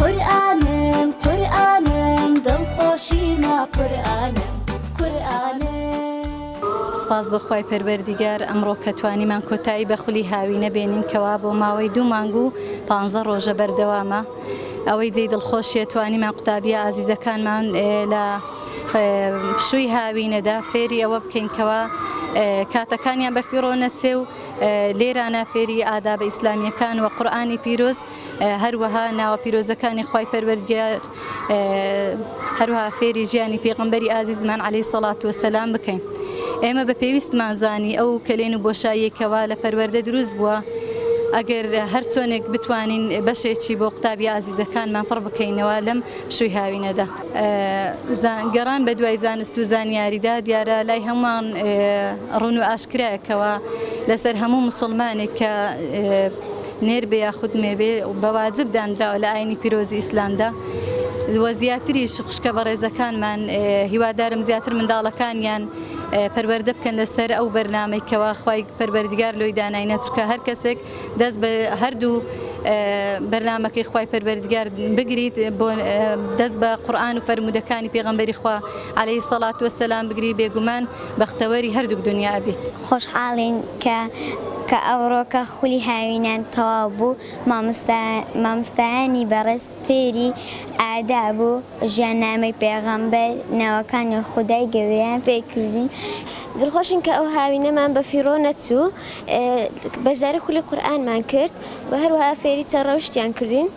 قورئانم قورئانم دڵخۆشیمە قورئانم قورئانم. سپاس بۆ خوای پەروەردیگار ئەمڕۆ کە توانیمان کۆتایی بە خولی هاوینە بێنین کەوا بۆ ماوەی دوو مانگ و پانزە ڕۆژە بەردەوامە ئەوەی جێی دڵخۆشیە توانیمان قوتابیە ئازیزەکانمان لە پشووی هاوینەدا فێری ئەوە بکەین کەوا کاتەکانیان بەفیڕۆ نەچێ و لێرانە فێری ئادابە ئیسلامیەکان و قورآانی پیرۆز هەروەها ناوە پیرۆزەکانی خوای پەروەردگار هەروها فێری ژیانی پێغمبەری ئازیزمان عليهەی سەڵات و سەسلام بکەین ئێمە بە پێویستمان زانی ئەو کەلێن و بۆشاییەکەوە لە پەروەەردە دروست بووە ئەگەر هەر چۆنێک بتوانین بەشێکی بۆ قوتابی ئازیزەکانمان پڕ بکەینەوە لەم شوی هاوینەدا گەڕان بە دوای زانست و زانیاریدا دیارە لای هەمووان ڕون و ئاشکرایەکەوە لەسەر هەموو مسلمانێک کە نێر بێ یاخود مێ بێ بە واجب دانراوە لە ئاینی پیرۆزی ئیسلامدا وە زیاتریش خوشکە بەڕێزەکانمان هیوادارم زیاتر منداڵەکانیان پەروەەردە بکەن لەسەر ئەو بەرنمەی کەوا خی پەروەردگار لۆی داناینە چکە هەر کەسێک دەست بە هەردوو بەرنمەکەی خی پەروەردگار بگریت بۆ دەست بە قورآان و فەرمودەکانی پێغمبەری خوا عليهەی سەڵات وسلام بگری بێگومان بەختەوەری هەردووک دونیا ئەبیت. خۆشحاڵین کە کە ئەوڕۆکە خولی هاوینان تەواو بوو مامۆستا مامۆستایانی بەڕێز فێری ئاداب و ژیاننامەی پێغەمبەر ناوەکانی خودای گەوریان پێ کردین، دڵخۆشین کە ئەو هاوینەمان بە فیڕۆ نەچوو بەشداری خولی قورئانمان کرد و هەروەها فێری چەند ڕەوشتیان کردین.